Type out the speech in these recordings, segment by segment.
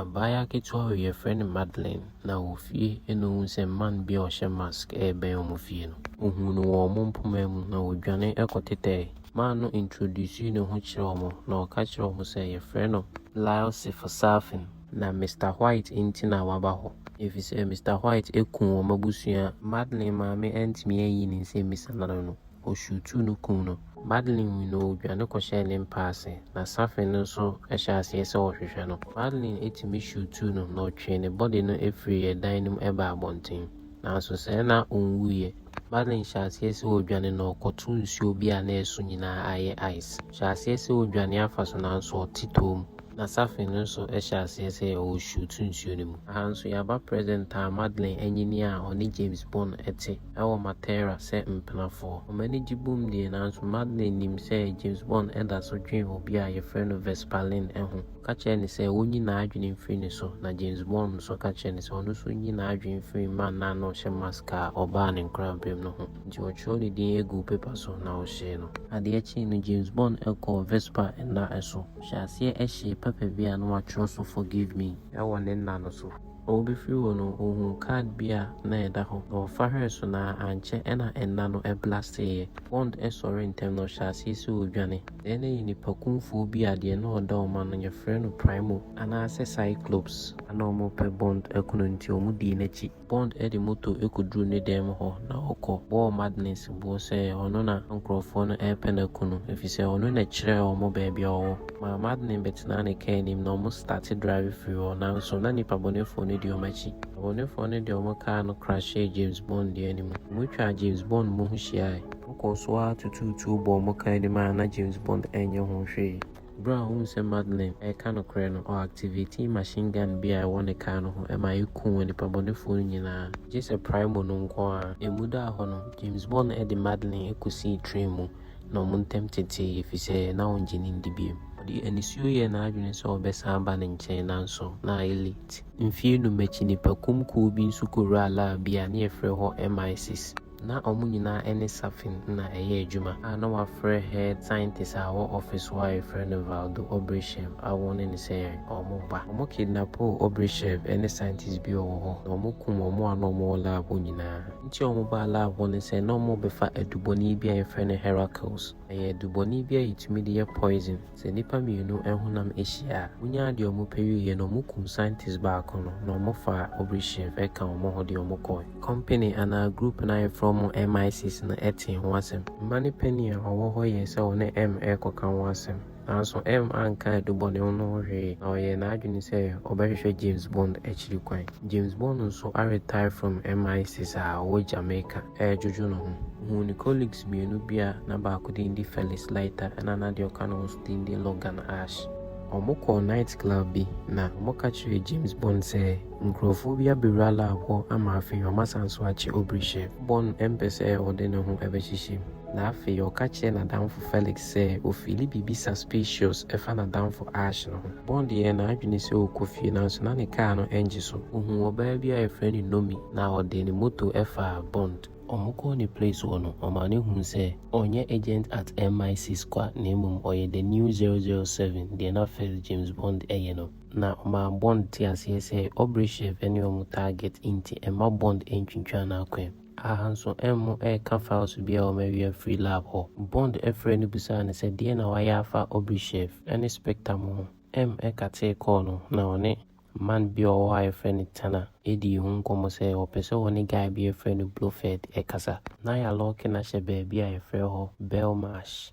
Abaayewa ketewa wei yɛfrɛ no Madeline na wɔ fie na ɔhu sɛ man bi a ɔhyɛ mask rebɛn wɔn fie no. Ɔhuu no wɔ wɔn mpoma mu na ɔdwane kɔtetɛɛ. Man no introducee ne ho kyerɛɛ wɔn na ɔka kyerɛɛ wɔn sɛ yɛfrɛ no Lyle Sefosaafin. Na Mister White nti na waba hɔ ɛfiri sɛ Mister White aku wɔn abusua. Madeline maame antumi anyi ne nsɛmmisa no ano. ɔhwiw tuu no kum no. Madeline hui no, ɔdwane kɔhyɛɛ ne mpa ase, na Safi no nso hyɛɛ aseɛ sɛ ɔrehwehwɛ no. Madeline tumi hwiw tuu no, na ɔtwee ne bɔde no firii ɛdan no mu baa abɔnten. Nanso sɛɛ na ɔnwuiɛ. Madeline hyɛɛ aseɛ sɛ ɔredwane na ɔkɔtoo nsuo bi a na ɛso nyinaa ayɛ ice. Ɔhyɛɛ aseɛ sɛ ɔredwane afa so nanso ɔte toom. Na Safi no nso hyɛɛ aseɛ sɛ ɔrehwiw tuu nsuo no mu. Aha nso, yɛaba present a Madeline anyini a ɔne James Bond te. wɔ Matera sɛ mpenafoɔ. Wɔn ani gye bom deɛ, nanso Madeleine nim sɛ James Bond da so dwen obi a wɔfrɛ no Vesperlin ho. Ɔka kyerɛ no sɛ ɔnyi n'adwene mfiri ne so, na James Bond nso ka kyerɛ no sɛ ɔno nso nyi n'adwene mfiri Mannah no a ɔhyɛ mask a ɔbaa ne nkoraberem no ho. Enti wɔtwerɛw ne din guu pepa so na wɔhyee no. Adeɛ kyee no, James Bond kɔɔ Vesper nna so hyɛɛ aseɛ hyee pɛpɛ bi a na wɔatwerɛ so Forgive Me wɔ ne nna no so. a wobefiri hɔ no wɔhuu card bi a na ɛda hɔ na wɔfa hwɛɛ so na ankyɛ na nna no blasteeɛ. Bond sɔre ntɛm na ɔhyɛɛ aseɛ sɛ ɔredwane. Deɛ na ɛyɛ nnipakumfoɔ bi a deɛ na ɔda wɔn ano no yɛfrɛ no Primo anaasɛ Cyclops. Na na wɔrepɛ Bond akunu nti wɔdii n'akyi. Bond de moto kɔduruu ne dan mu hɔ na ɔkɔ bɔɔ Madness boɔ sɛ ɔno na nkorɔfoɔ no repɛ no aku no efisɛ ɔno na kyerɛɛ wɔn baabi a ɔwɔ. Maa Madeleine bɛtenaa ne car anim na wɔn starte drive firi hɔ nanso na nnipa bɔnefoɔ no di wɔn akyi. Abɔnefoɔ no de wɔn car no crashyɛɛ James Bond deɛ no mu. Wɔn twaa James Bond mo ho hyiaae. Wɔn kɔɔ so ara tutuu tuo bɔɔ wɔn car anim a na James Bond ɛnyɛ ho hwee. Berɛ a ɔhuu sɛ Madeleine reka nokorɛ no, ɔ activatee machine gun bi a ɛwɔ ne car no ho ma ɛkuu nnipa bɔnefoɔ no nyinaa. Gyesɛ Primo no nko ara. Ɛmu daa hɔ no, James Bond de Madeleine kɔsii train mu. na wɔn ntam tetee ɛfiri sɛ na ɔngye no ndi bio. Ɔde anisuo yɛɛ n'adwene sɛ ɔbɛsan aba ne nkyɛn nanso na ayɛ late. Mfeɛ nnum akyi, nnipakum kuo bi nso kɔwuraa lab bi a na yɛfrɛ hɔ MI6. Na wɔn nyinaa ne Safin na ɛyɛ adwuma a na wɔafrɛ head scientist a ɔwɔ office hɔ a yɛfrɛ no Valdo Obrishev a wɔn ne no sɛ yɛn. Wɔba. Wɔkidnapoo Obrishev ne scientist bi a ɔwɔ hɔ na wɔkum wɔn a na wɔwɔ lab hɔ nyinaa. Nti a wɔbaa lab hɔ ne sɛ na wɔrebɛfa adubɔne bi a yɛfrɛ no Heracles. Ɛyɛ adubɔne bi a ɛtumi de yɛ poison. Sɛ nnipa mmienu honam hyia a, wonyaa deɛ wɔpɛ wieeɛ no, wɔkum scientist baako no na wɔfaa Obryshev ka wɔn ho de wɔn kɔɔe. Company anaa group no a yɛfrɛ wɔn MI6 no tee ho asɛm. Mma no panin a ɔwɔ hɔ yɛɛ sɛ ɔne M rekɔka ho asɛm. Nanso M anka adubɔne no ho hwee, na ɔyɛɛ n'adwene sɛ ɔbɛhwehwɛ James Bond akyiri kwan. James Bond nso aretire from MI6 a ɔwɔ Jamaica redwodwo ne ho. Ohuu ne colleagues mmienu bi a na baako din de Felix Leiter ɛna na deɛ ɔka ne ho nso din de Logan Ash. Wɔkɔɔ night club bi na wɔka kyerɛɛ James Bond sɛ nkurɔfoɔ bi abɛwura lab hɔ ama afei wɔasan nso akye Aubrey Shep. Bond mpɛ sɛ ɔde ne ho bɛhyehyɛ mu, na afei ɔka kyerɛɛ n'adamfo Felix Sɛ Ofili bebisa Spacious fa n'adamfo Ash no ho. Bond yɛɛ n'adwene sɛ ɔkɔ fie nanso na ne kaa no ngye so. Ɔhuu ɔbaa bi a yɛfrɛ no Nomi na ɔde ne moto faa Bond. Wɔkɔɔ ne place hɔ no, ɔmaa no huu sɛ ɔnyɛ agent at MI6 kwa na mmom ɔyɛ the new 007, deɛ na first James Bond yɛ no. Na ɔmaa Bond tee aseɛ sɛ Obryshev ne wɔn target nti mma Bond ntwintwane akwan. Aha nso ɛmmo ɛreka files bi a wɔawie afiri lab hɔ. Bond frɛɛ no bisaa no sɛ deɛn na wayɛ afa Obrishev ne Spectam ho. M katee kɔɔ no na ɔne man bi a ɔwɔ hɔ a yɛfrɛ no Tana dii ho nkɔmmɔ sɛ ɔpɛ sɛ ɔne guy bi a yɛfrɛ no Blofeld kasa. Na yɛalɔɔke no ahyɛ baabi a yɛfrɛ hɔ Belmarsh.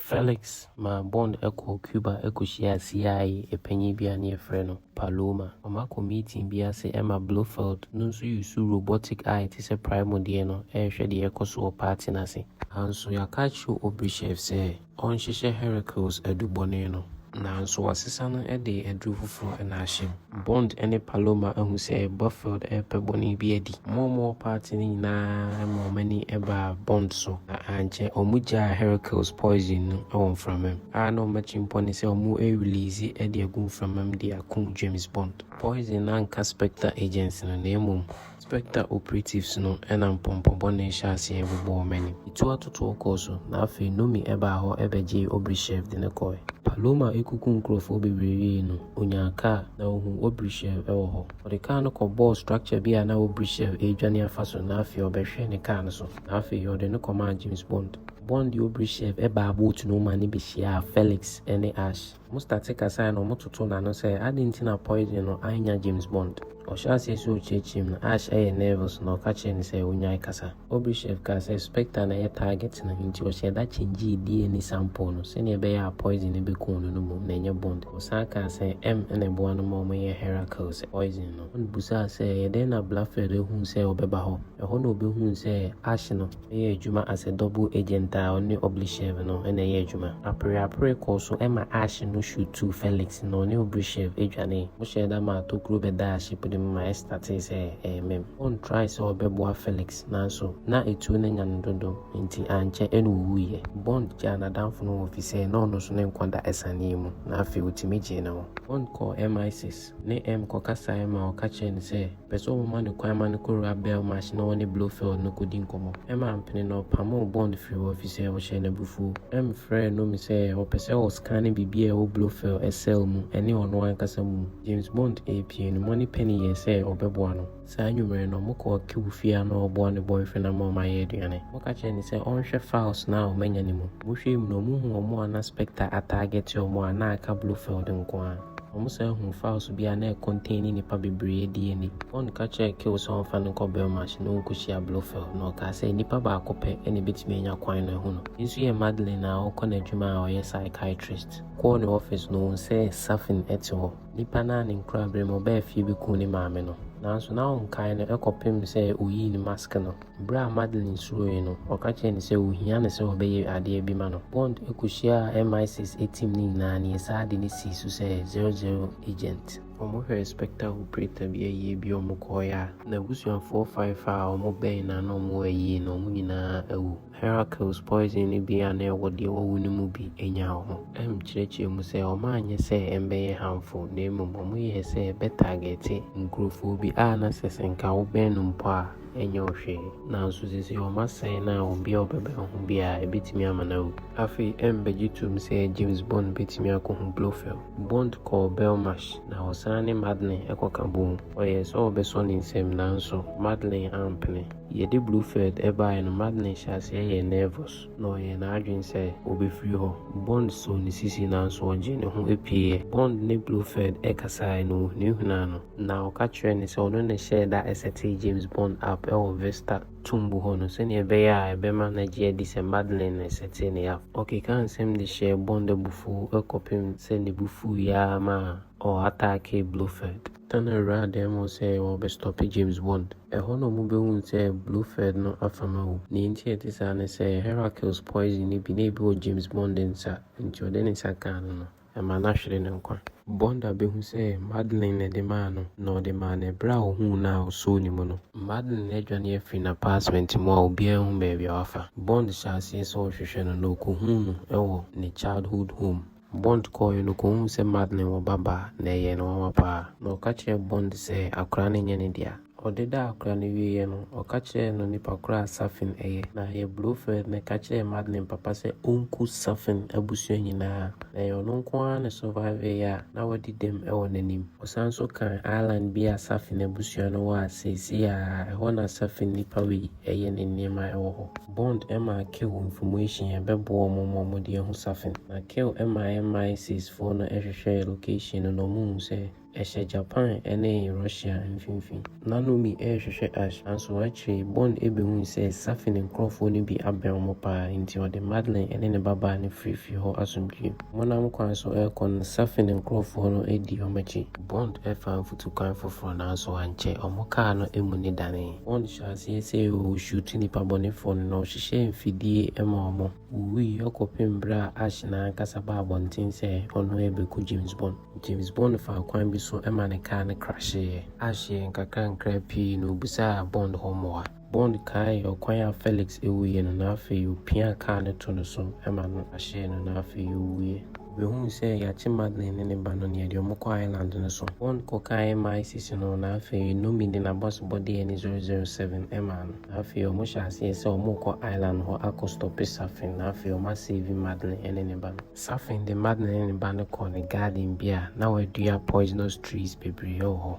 Felix maa Bond kɔɔ Cuba kɔhyiaa CIA panyin bi a na wɔfrɛ no Paloma. Wɔakɔ meeting bi ase ma Blofeld no nso yusu robotic a ɛte sɛ Primo deɛ no rehwɛ deɛ ɛrekɔ so wɔ party no ase. Nanso yɛaka akyerɛ Obrishev sɛ ɔnhyehyɛ Heracles adubɔne no. Nanso wɔasesa no de aduru foforo na ahyɛ mu. Bond ne Paloma ahu sɛ Blofeld repɛ bɔne bi adi. Wɔn a wɔwɔ paati no nyinaa ma wɔn ani baa Bond so, na ankyɛ wogyaa Hercules poison no wɔ mframa mu, a na wɔn atirimpɔ ne sɛ wɔbɛriliise de agu mframa mu de akum James Bond. Poison no anka Spectre agyents no, na mmom Spectre operatives no na mpɔmpɔ bɔne hyɛɛ aseɛ bobɔɔ m'anim. Etu atotoɔ kɔɔ so, na afei Nomi baa hɔ bɛgyee Obryshev de no kɔe. Paloma kuku nkurɔfoɔ bebree wiei no, ɔnyaa kaa, na ɔhuu Obryshev wɔ hɔ. Ɔde kaa no kɔbɔɔ structure bi a na Obryshev redwane afa so, na afei ɔbɛhwɛɛ ne kaa no so, na afei ɔde no kɔmaa James Bond. Bond de Obryshev baa boat no mu ma no bɛhyiaa Felix ne Ash. Mustard kasae na wɔtotoo n'ano sɛ, Adɛn nti na poison no annya James Bond? Ɔhyɛɛ aseɛ sɛ ɔkyiakyia mu, na Ash yɛɛ nervous, na ɔka kyerɛɛ no sɛ ɔnnyae kasa. Obrishev kaa sɛ Spectre na ɛyɛ target no, enti ɔhyɛɛ da kyɛngyee DNA sample no, sɛdeɛ ɛbɛyɛ a poison no bɛkum no no mmom, na ɛnyɛ Bond. Ɔsan kaa sɛ M na ɛboa no ma wɔyɛ Heracle sɛ poison no. Bond bisaa sɛ, Ɛyɛ dɛn na Blofeld huu sɛ ɔbɛba hɔ? Ɛhɔ na ɔbɛhuu sɛ Ash no. yɛ adwuma as a double agent a ɔne Oblyshev no na ɛyɛ adwuma. Apereapere kɔɔ so ma aahye no shoot too Felix na ɔne Oblyshev dwanee. Wɔhyɛɛ da maa tokuro bɛdaa ship no mu ma ɛstartee sɛ ɛremem. Oon trae sɛ ɔbɛboa Felix nanso na atuo no anya no dodo nti ankyɛ na owuiɛ. Bond gyaa n'adamfo no hɔ fisɛ na ɔno nso ne nkwa da asiane yi mu na afei ɔtumi gyee ne ho. Bond kɔɔ MI6. ne Em kɔkasaeɛ ma wɔka kyerɛɛ no sɛ pɛ sɛ wɔma no kwan ma no kɔwura Belmarsh na wɔne Blofeld no kɔdi nkɔmmɔ. Em ampene na ɔpamoo Bond firii hɔ ɛfiri sɛ ɔhyɛɛ no abufuo. Em frɛɛ Nomi sɛ ɔpɛ sɛ ɔskane biribi a ɛwɔ Blofeld cell mu ɛne ɔno ankasa mu. James Bond repue no, Moneypenny yɛɛ sɛ ɔbɛboa no. Saa anwummere no, mokɔɔ Kew fie a na ɔboa ne boyfriend ama wɔn ayɛ aduane. Moka kyerɛɛ no sɛ ɔnhwɛ files no a wɔanya no mu. Mohwɛɛ mu no, muhuu wɔn a na Spectre atargete wɔn a na aka Blofeld nko ara. Wɔsan huu files bi a na ɛcontain nnipa bebree DNA. Bond ka kyerɛɛ Kew sɛ ɔmfa no nkɔ Belmarsh na onkohyia Blofeld, na ɔkaa sɛ nipa baako pɛ na ebetumi anya kwan no ahu no. Me nso yɛ Madeleine a ɔkɔ n'adwuma a ɔyɛ psychiatrist. Mekɔɔ ne office no, ohuu sɛ Safin te hɔ. Nipa no a ne nkurabere mu ɔbaa fie bɛkuu ne maame no, nanso na ɔnkae no kɔpem sɛ ɔyii ne mask no. Berɛ a Madeleine suroeɛ no, ɔka kyerɛɛ no sɛ ɔhia no sɛ ɔbɛyɛ adeɛ bi ma no. Bond kɔhyiaa MI6 team no nyinaa na yɛsaa ade no sii so sɛ 00 agent. Wɔhwɛɛ spectre operator bi ayie bi wɔkɔeɛ a, n'abusuafoɔ faefae a wɔbɛn no a na wɔwɔ ayie no, wɔn nyinaa awu. Heracles poison no bi a na ɛwɔ deɛ wawu no mu bi nya wɔ ho. M kyerɛkyerɛ mu sɛ wɔanyɛ sɛ ɛmbɛyɛ harmful na mmom wɔyɛɛ sɛ ɛbɛ targete nkurofoɔ bi a na sɛ sɛ nka wo bɛn no mpo a ɛnyɛ wo hwee. Nanso seesei wɔn asɛe no a obi a ɔbɛbɛn ho biara ɛbɛtumi ama no awu. Afei M bɛgye toom sɛ James Bond bɛtumi akɔhu Blofeld. Bond kɔɔ Belmarsh na ɔsan ne Madeleine kɔka bɔɔ mu. Ɔyɛɛ sɛ ɔbɛsɔ ne nsam nanso Madeleine ampene. Yɛde Blofeld baeɛ no, Madeline hyɛɛ aseɛ yɛɛ nervous, na ɔyɛɛ n'adwene sɛ ɔbɛfiri hɔ. Bond soo ne sisi nanso ɔgyee ne ho pueeɛ. Bond ne Blofeld kasaeɛ no, ɔhunahunaa no, na ɔka kyerɛɛ no sɛ ɔno na ɛhyɛɛ da setee James Bond up wɔ Vista tumbo hɔ no sɛdeɛ ɛbɛyɛ a ɛbɛma no agye adi sɛ Madeline na ɛsetee no up. Ɔkekaa nsɛm de hyɛɛ Bond abufuo kɔpem sɛ ne bo fuiɛ ara maa ɔ attackee Blofeld. Tanner wura adan mu sɛ wɔbɛ stɔpe James Bond. Ɛhɔ na ɔmo behuu sɛ Blofeld no afam awu. Nea enti a ɛte saa ne sɛ Heracles poison no bi na ebi wɔ James Bond nsa nti ɔde ne nsa kaa no no, ɛmaa no ahwere ne nkwa. Bond abehu sɛ Madeleine na ɛde maa no na ɔde maa no ɛbere a ohuu no a osoo ne mu no. Madeleine adwane afiri n'apartment mu a obiara nhu baabi a wafa. Bond hyɛ aseɛ sɛ ɔrehwehwɛ no na okohuu no wɔ ne childhood home. Bond kɔɔeɛ no, ɔkɔhuu sɛ Madeleine wɔ ba baa, na ɛyɛɛ no nwanwa paa. Na ɔka kyerɛɛ Bond sɛ akwadaa no nyɛ ne dea. Ɔdedaa akwadaa no wieeɛ no, ɔka kyerɛɛ no nipa korɔ a Safin yɛ. Na yɛ Blofeld no ka kyerɛɛ Madeleine papa sɛ ɔnku Safin abusua nyinaa. Na ɛyɛ ɔno nko ara na surviveeɛ a na wadi dɛm wɔ n'anim. Ɔsan nso kaa island bi a Safin abusua no wɔ a seesei ara ɛhɔ na Safin nnipa wɔ yi. Ɛyɛ ne nneɛma ɛwɔ hɔ. Bond maa Kew nfomuation a ɛbɛboa wɔn ma wɔde ahu Safin. Na Kew maa MI6 foɔ no hwehwɛɛ location no na wɔhuu sɛ ɛhyɛ Japan ne Russia mfimfini. Na Nomi rehwehwɛ Ash, nanso akyire yi Bond bɛhui sɛ Safin nkorɔfoɔ no bi abɛn wɔn pa ara, enti ɔde Madeleine ne ne babaa no firii fie hɔ asomdwoeɛ mu. Wɔnam kwan so rekɔ no, Safin nkorɔfoɔ no dii wɔn akyi. Bond faa mfutukwan foforɔ nanso ankyɛ, wɔn kaa no amu no danee. Bond hyɛɛ aseɛ sɛ ɔreshuutu nnipa bɔnefoɔ no na ɔhyehyɛɛ mfidie maa wɔn wuwuiɛ kɔpem berɛ a Ash no ara ankasa baa abɔnten sɛ ɔno rebɛku James Bond. James Bond faa kwan bi so ma ne kaa no krahyeeɛ. Ash yɛɛ nkakrankra pii na ɔbisaa Bond hɔ mmoa. Bond kaee ɔkwan a Felix wuiɛ no, na afei ɔpiaa kaa no to no so ma no hyee no, na afei ɔwuiɛ. Ɔbɛhuu sɛ yɛakye Madeleine ne ne ba no, na yɛde wɔn kɔ Ireland no so. Bond kɔkaee MI6 no, na afei Nomi de n'abɔsebɔ dii ani 007 maa no, na afei wɔn hyɛɛ aseɛ sɛ wɔn rekɔ Ireland hɔ akɔ stɔpe Safin, na afei wɔn a save Madeleine ne ne ba no. Safin de Madeleine ne ne ba no kɔɔ ne garden bi a na wɔadua poisonous trees bebree wɔ hɔ.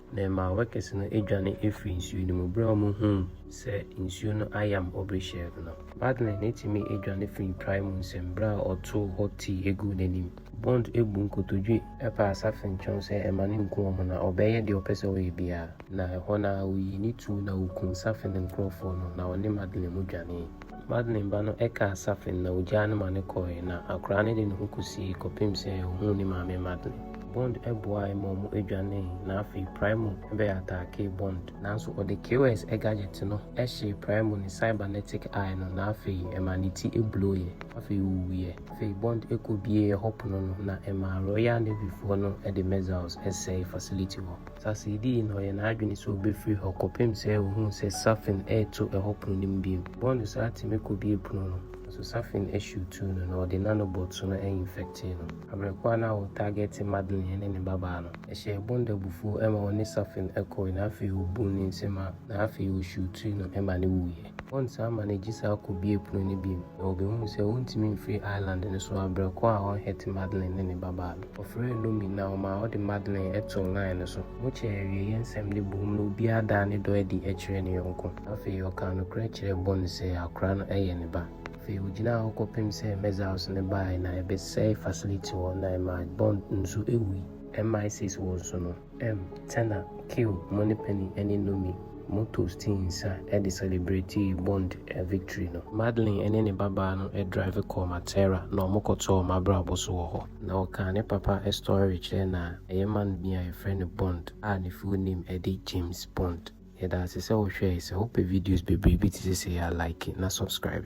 na ɛmaa workers no dwane firii nsuo no mu berɛ a wɔhuu sɛ nsuo no ayam Aubrey Sherk no. Madeleine tumi dwane firii prae mu nsɛm berɛ a ɔtoo hot tea guu n'anim. Bond bu nkotodwe paa safentweɔn sɛ mma no nku wɔn na ɔbɛyɛ deɛ ɔpɛ sɛ ɔyɛ biara, na ɛhɔ no ara ɔyii ne tuo na ɔkumm safen nkorɔfoɔ no na ɔne Madeleine mu dwanee. Madeleine ba no kaa Safen na ogyaa no ma no kɔe, na akwadaa no de ne ho kosiei kɔpem sɛ ohuu ne maame Madeleine. Bond boae ma wɔdwanee, na afei Primo bɛataakee Bond. Nanso ɔde KOS gadget no hyee Primo ne cybernetic eye no, na afei ɛmaa ne ti blow'eɛ. Afei owuiɛ. Afei Bond kɔbuee hɔ pono no, na ɛmaa Royal Navyfoɔ no de missiles sɛee facility hɔ. Sase dii na ɔyɛ n'adwene sɛ ɔbɛfiri hɔ kɔpem sɛ ɔhunu sɛ Safin reto ɛhɔ pono no mu bio. Bɔɔ no saa tumi kɔbie pono no, nanso Safin hyew tuu no na ɔde nanobots no infectee no. Abrɛ ko a na wɔ targete Madeleine ne ne babaa no, ɛhyɛɛ Bond abufuo ma ɔne Safin kɔe na afei ɔbuu ne nsam a na afei ɔhyew tuu no ma no wuiɛ. Wɔnsan ma no gyesɛ akɔbue pono no bio, na wɔbɛhuu sɛ wɔntumi mfiri Ireland no so abrɛ kɔ a ɔnhɛte Madeleine ne ne babaa no. Wɔfrɛɛ Lomi na ɔmaa ɔde Madeleine too line no so. Wɔkyɛɛ awieɛ nsɛm no boom na obiara daa ne dɔ adi kyerɛɛ ne yɔnko. Afei ɔkaa nokorɛ kyerɛɛ Bonne sɛ akora no yɛ ne ba. Afei ɔgyinaa hɔ kɔpem sɛ measles no baae na ɛbɛsɛe facility hɔ na ɛmaa Bonne nso wuui. MI6 wɔ nso no. M, Tena, Kill, Moneypenny ne Nomi. Mo toastii nsa de celebretii Bond victory no. Madeline ne ne babaa no drive kɔɔ Matera na ɔmo kɔtɔɔ Mabrabo so wɔ hɔ. Na ɔkaa ne papa story kyerɛɛ no a, ɛyɛ man bi a yɛfrɛ no Bond a ne full name de James Bond. Yɛda ase sɛ wohwɛe, sɛ wopɛ videos bebree bi te sɛ sei a like na subscribe.